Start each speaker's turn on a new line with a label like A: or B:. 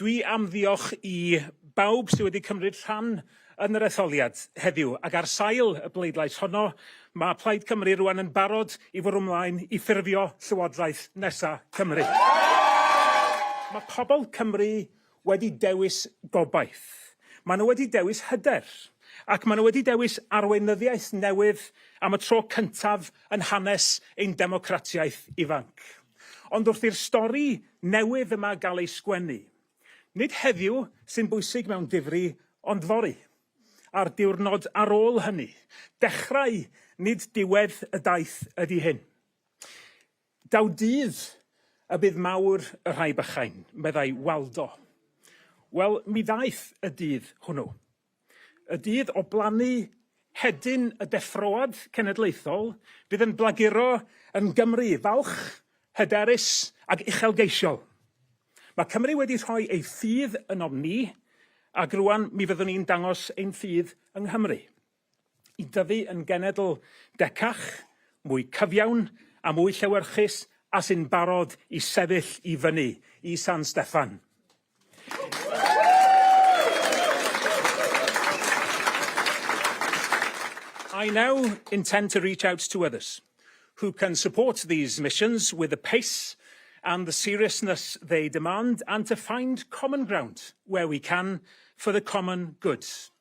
A: Dwi am ddiolch i bawb sydd wedi cymryd rhan yn yr etholiad heddiw, ac ar sail y bleidlais honno, mae Plaid Cymru rwan yn barod i fwrw mlaen i ffurfio Llywodraeth nesa Cymru. Mae pobl Cymru wedi dewis gobaith, maen nhw wedi dewis hyder, ac maen nhw wedi dewis arweinyddiaeth newydd am y tro cyntaf yn hanes ein democratiaeth ifanc. Ond wrth i'r stori newydd yma gael ei sgwennu, nid heddiw sy'n bwysig mewn difri, ond fory, a'r diwrnod ar ôl hynny. Dechrau, nid diwedd y daith ydi hyn. Daw dydd y bydd mawr y rhai bychain, meddai Waldo. Wel, mi ddaeth y dydd hwnnw. Y dydd o blannu hedyn y deffroad cenedlaethol fydd yn blaguro yn Gymru falch, hyderus ac uchelgeisiol. Mae Cymru wedi rhoi ei ffydd ynom ni ac rŵan mi fyddwn ni'n dangos ein ffydd yng Nghymru. i dyfu yn genedl decach, mwy cyfiawn a mwy llewyrchus a sy'n barod i sefyll i fyny i San Steffan. I now intend to reach out to others who can support these missions with the pace and the seriousness they demand and to find common ground where we can for the common good.